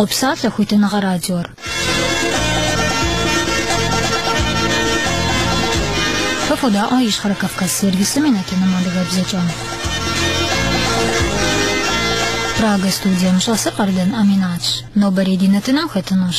Къопсалъэ хуитыныгъэ радиор. Фэ фодаӏуэ Ищхъэрэ Кавказ сервисым и нэтыным адыгэбзэкӏэ. Прага студием щӏэсыр Къардэн Аминатщ. Нобэрей ди нэтыным хэтынущ.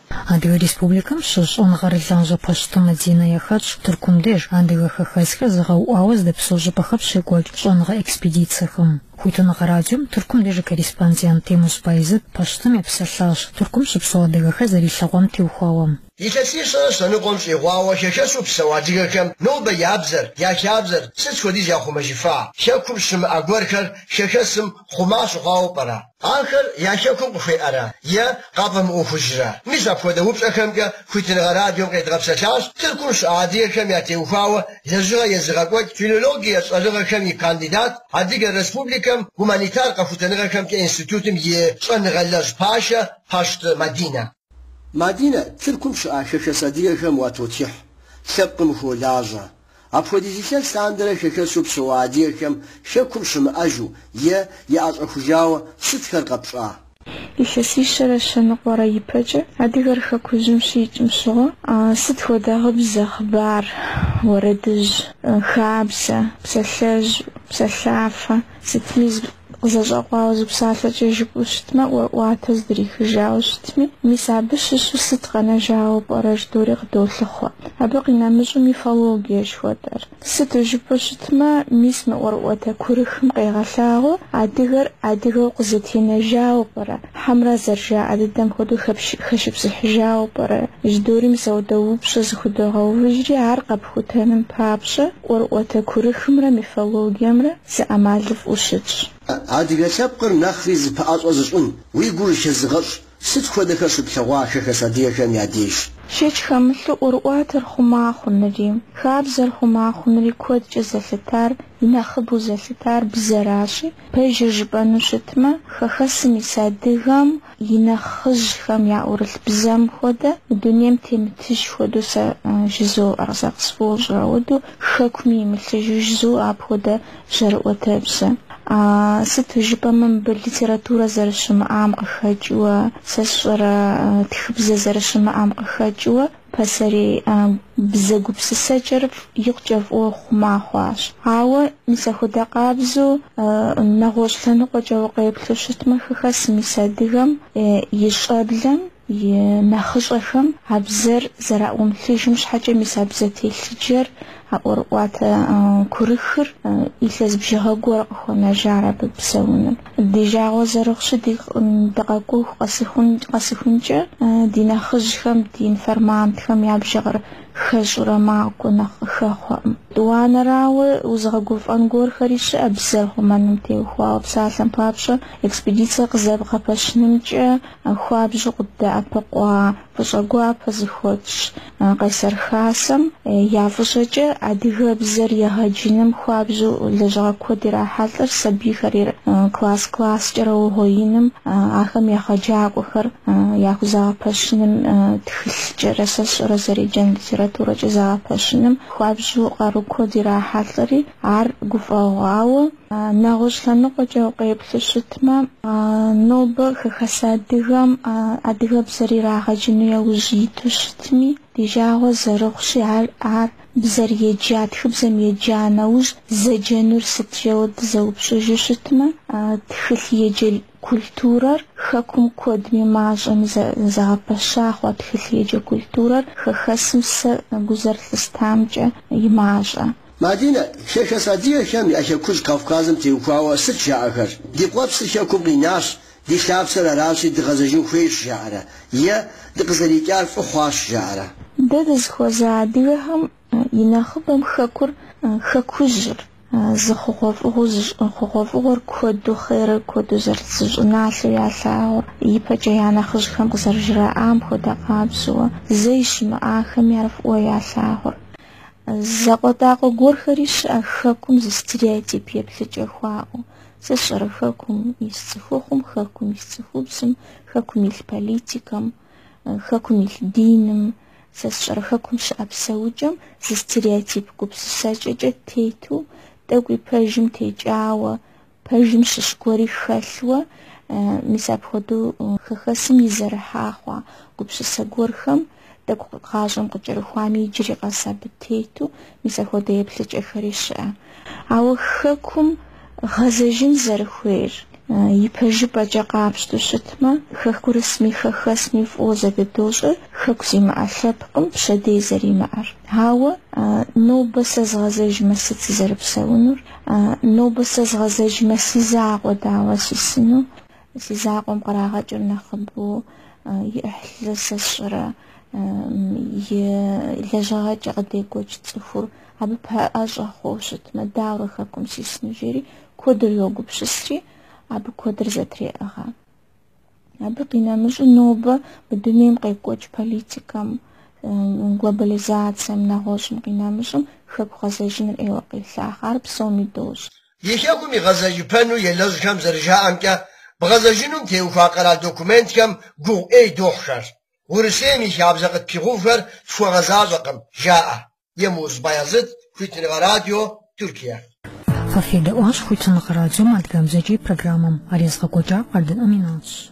Адыгэ Республикэм щыщ щӏэныгъэрылажьэ Пащты Мадинэ яхэтщ Тыркум деж адыгэ хэхэсхэр зэгъэуӏуауэ здэпсэу щӏыпӏэхэм щекӏуэкӏ щӏэныгъэ экспедицэхэм. Хуитыныгъэ радиом Тыркум деж и корреспондент Темуз Байзэт Пащтым епсэлъащ Тыркум щыпсэу адыгэхэр зэрилъэгъуам теухуауэ. Илъэсищэрэ щэныкъуэм щӏигъуауэ хэхэсу псэу адыгэхэм нобэ я бзэр, я хабзэр сыт хуэдиз яхъумэжыфа? Хэкум щымыӏэ гуэрхэр хэхэсым хъума щыхъуауэ пӏэрэ? Ахэр я Хэкум къыхуеӏэрэ е къафӏэмыӏуэхужрэ? Мис апхуэдэ упщӏэхэмкӏэ хуитыныгъэ радиом къедгъэпсэлъащ Тыркум щыӏэ адыгэхэм ятеухуауэ лэжьыгъэ езыгъэкӏуэкӏ филологие щӏэныгъэхэм и кандидат, Адыгэ Республикэм гуманитар къэхутэныгъэхэмкӏэ институтым и щӏэныгъэлэжь пашэ Пащты Мадинэ. Мадинэ, Тыркум щыӏэ хэхэс адыгэхэм уатотхыхь, лъэпкъым ухуолажьэ. Апхуэдиз илъэс лъандэрэ хэхэсу псэуа адыгэхэм Хэкум щымыӏэжу е яӏэщӏэхужауэ сытхэр къэпщӏа? Илъэсищэрэ щэныкъуэрэ ипэкӏэ адыгэр Хэкужьым щикӏым щыгъуэ сыт хуэдэ гъыбзэ, хъыбар, уэрэдыжь, хабзэ, псалъэжь, псалъафэ, Сытми зэщӏэкъуауэ зы псалъэкӏэ жыпӏэу щытмэ, ӏуэрыӏуатэ здрихыжауэ щытми, мис абы щыщу сыт къэнэжауэ пӏэрэ жыдоӏэри къыдолъыхъуэ. Абы къинэмыщӏу мифологие жыхуэтӏэр. Сыту жыпӏэу щытмэ, мис мы ӏуэрыӏуатэ курыхым къегъэлъагъуэу адыгэр адыгэу къызэтенэжауэ пӏэрэ, хьэмрэ зэрыжаӏэ дыдэм хуэдэу хэшыпсыхьыжауэ пӏэрэ жыдоӏэри мис апхуэдэ упщӏэ зыхудогъэувыжри, ар къэпхутэным папщӏэ ӏуэрыӏуатэ курыхымрэ мифологиемрэ зы ӏэмалыфӏу щытщ. Адыгэ лъэпкъыр нэхъри зэпэӏэщӏэ зыщӏын уи гур хэзыгъэщӏ сыт хуэдэхэр щыплъэгъуа хэхэс адыгэхэм я деж? Шэч хэмылъу ӏуэрыӏуатэр хъума хъунури, хабзэр хъума хъунури куэдкӏэ зэлъытар, и нэхъыбэу зэлъытар бзэращи, пэжыр жыпӏэну щытмэ, хэхэсым ис адыгэм, И нэхъыжьхэм яӏурылъ бзэм хуэдэ, мы дунейм темытыж хуэдэу сэ жызоӏэр, сэ къысфӏощӏыр, ауэдэу хэкуми имылъыжу жызоӏэ апхуэдэ жьэрыӏуэтэбзэ. А, сыту жыпӏэмэ, мыбы литературэ зэрыщымыӏам къыхэкӏыуэ, сэ сщӏэрэ, тхыбзэ зэрыщымыӏам къыхэкӏыуэ, Пасэрей бзэ гупсысэкӏэр икъукӏэ фӏыуэ хъума хъуащ. Ауэ мис ахуэдэ къабзэу нэгъуэщӏ лъэныкъуэкӏэ укъеплъу щытмэ, хэхэсым ис адыгэм и щӏэблэм и нэхъыщӏэхэм а бзэр зэраӏумылъыжым щхьэкӏэ мис а бзэ телъыджэр А ӏуэрыӏуатэ курыхыр илъэс бжыгъэ гуэр къыхуэнэжар абы псэуну. Ди жагъуэ зэрыхъущи, дыкъэкӏуэху къэсыхункӏэ, ди нэхъыжьхэм, ди информантхэм я бжыгъэр хэщӏурэ макӏуэ нэхъ къыхэхъуэкъым. Тӏуанэрауэ, узыгъэгуфӏэн гуэрхэри щыӏэ бзэр хъумэным теухуауэ. Псалъэм папщӏэ, экспедицэ къызэбгъэпэщынымкӏэ хуабжьу къыддэӏэпыкъуа фӏыщӏэ гуапэ зыхуэтщӏ. Къайсэр Хасэм я фӏыщӏэкӏэ адыгэбзэр егъэджыным хуабжьу лэжьыгъэ куэд ирахьэлӏэр сабийхэри класс-класскӏэрэ угъуеиным, ахэм егъэджакӏуэхэр яхузэгъэпэщыным, тхылъкӏэрэ, сэ сщӏэрэ, зэреджэн литературэкӏэ зэгъэпэщыным хуабжьу къару куэд ирахьэлӏэри, ар гуфӏэгъуауэ, Нэгъуэщӏ лъэныкъуэкӏэ укъеплъу щытмэ, нобэ хэхэс адыгэм адыгэбзэр ирагъэджыну яужь иту щытми, ди жагъуэ зэрыхъущи, ар ар бзэр еджа, тхыбзэм еджа нэужь зэджэнур сыт жэуэ дызэупщӏыжу щытмэ, тхылъ еджэ культурэр хэкум куэдми мащӏэми зэгъэпэща хъуа тхылъ еджэ культурэр хэхэсым сэ гу зэрылъыстамкӏэ и мащӏэ. Мадинэ, хэхэс адыгэхэм я Хэкужь Кавказым теухуауэ сыт жаӏэхэр? Ди къуэпсыр Хэкум къинащ, ди лъапсэр аращи дыгъэзэжын хуейщ жаӏэрэ? Е дыкъызэрикӏар фӏы хъуащ жаӏэрэ? Дэ дызыхуэза адыгэхэм и нэхъыбэм Хэкур, Хэкужьыр, зы хъугъуэфӏыгъуэу зы щӏын хъугъуэфӏыгъуэр куэду, хъерыр куэду зэрыт зы щӏыналъэу ялъагъур, ипэкӏэ я нэхъыжьхэм къызэрыжраӏам хуэдэ къабзэуэ, зэи щымыӏахэми ар фӏыуэ ялъагъур. Закъуэтӏакъуэ гуэрхэри щыӏэ хэкум зы стереотип еплъыкӏэ хуаӏэу. Сэ сщӏэрэ хэкум ис цӏыхухъум, хэкум ис цӏыхубзым, хэкум илъ политикэм, хэкум илъ диным, сэ сщӏэрэ хэкум щыӏэ псэукӏэм зы стереотип гупсысэкӏэкӏэ тету, тӏэкӏуи пэжым текӏауэ, Пэжым щыщ гуэри хэлъуэ, мис апхуэдэу хэхэсым изэрыхьа хъуа гупсысэ гуэрхэм, тӏэкӏу гъащӏэм къыкӏэрыхуами иджыри къэс абы тету, мис апхуэдэ еплъыкӏэхэри щыӏэ. Ауэ Хэкум гъэзэжын зэрыхуейр ипэжыпӏэкӏэ къапщту щытмэ, хэкурысми хэхэсми фӏыуэ зэдыдощӏэр Хэку зимыӏэ лъэпкъым пщэдей зэримыӏэр. Ауэ нобэ сэ згъэзэжмэ сыт сызэрыпсэунур? А, нобэ сэ згъэзэжмэ, си закъуэ дауэ сисыну, си закъуэм кърагъэкӏыр нэхъыбэу и ӏыхьлы сэ сщӏэрэ, и лэжьыгъэкӏэ къыдекӏуэкӏ цӏыхур абы пэӏэщӏэ хъуэу щытмэ, дауэрэ хэкум сисыну, жери куэдыр йогупсысри, абы куэдыр зэтреӏыгъэ. Абы къинэмыщӏу нобэ мы дунейм къекӏуэкӏ политикэм, глобализацэм, нэгъуэщӏым къинэмыщӏым хэку гъэзэжыныр ӏейуэ къелъахъэ. Ар псоми дощӏ. И хэкум игъэзэжыпэну елэжьхэм зэрыжаӏэмкӏэ, бгъэзэжынум теухуа къэрал документхэм гугъу ӏей дохьхэр. Урысейм и хабзэ къытпигъэувхэр тхуэгъэзащӏэкъым, жаӏэ. Емуз Баязыт, Хуитыныгъэ радио, Тюркия. Фэ федэӏуащ Хуитыныгъэ радиом адыгэбзэкӏэ и программэм. Ар езыгъэкӏуэкӏар Къардэн Аминатщ.